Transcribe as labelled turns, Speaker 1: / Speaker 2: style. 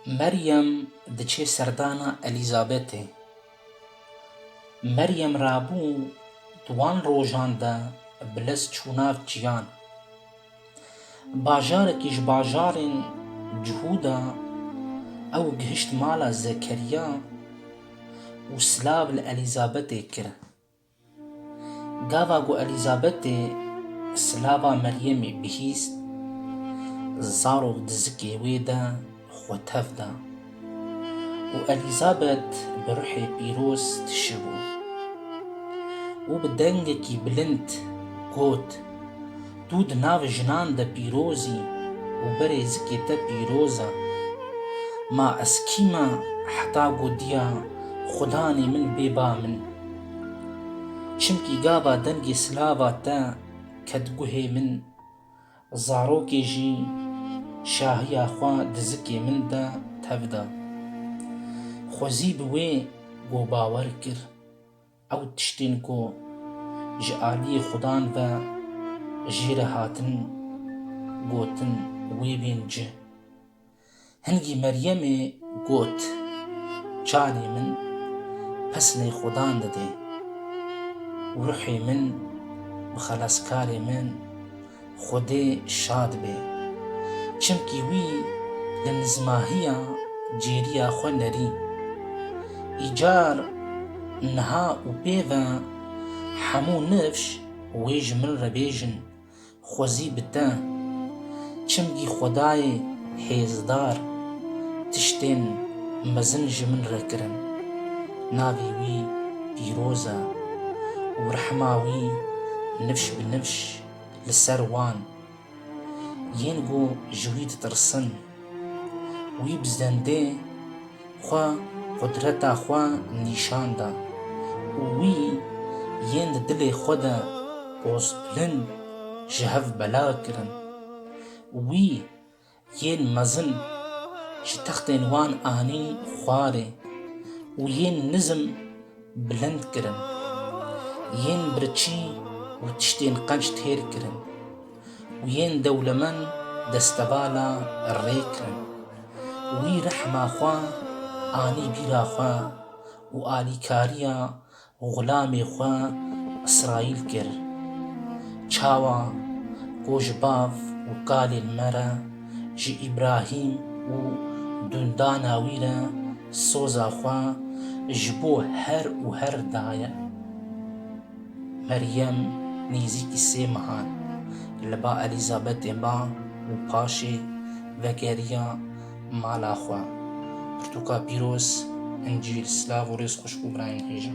Speaker 1: Meryem diçe serdana Elîzabetê. Meryem rabû di wan rojan de bi lez çû nav çiyan. Bajarekî ji bajarên cihû de ew gihişt mala Zekeriya û silav li Elîzabetê kir. Gava ku Elîzabetê silava Meryemê bihîst, zarok di zikê wê de xwe tev da û Elîzabet bi ruhê pîroz tişibû û bi dengekî bilind got, Tu di nav jinan de pîroz î û berê zikê te pîroz e. Ma ez kî me heta gotiya Xudanê min bê ba min? Çimkî gava dengê silava te ket guhê min, zarokê jî şahiya xwe di zikê min de tev da. Xwezî bi wê got bawer kir. Ew tiştên ku ji aliyê xudan ve jê re hatin gotin wê bên ci. Hingî Meryemê got, Canê min pesnê xudan didê û ruhê min bi xelaskarê min Xwedê şad be. Çimkî wî li nizmahiya cêriya xwe nerî. Îcar niha û pê ve hemû nifş wê ji min re bêjin, xwezî bi te. Çimkî xwedayê hêzdar tiştên mezin ji min re kirin. Navê wî pîroz e û rehma wî nifş bi nifş. li ser wan yên ku ji wî ditirsin. Wî bi zendê xwe qudreta xwe nîşan da û wî yên di dilê xwe de pozpilin ji hev bela kirin. Wî Yên mezin ji textên wan anîn xwarê û yên nizm bilind kirin. Yên birçî û tiştên qenc têr kirin û yên dewlemend destevala rê kirin. Wî rehma xwe anî bîra xwe û alîkariya Xulamê xwe Îsraîl kir. Çawa ku ji bav û kalên me re, ji Îbrahîm û dundana wî re soza xwe ji bo her û her daye. Meryem nêzîkî sê mehan li ba Elîzabetê ma û paşê vegeriya. Mala xwe, pirtûka pîroz, încîl, silav û rêz xwişk û birayên hêja.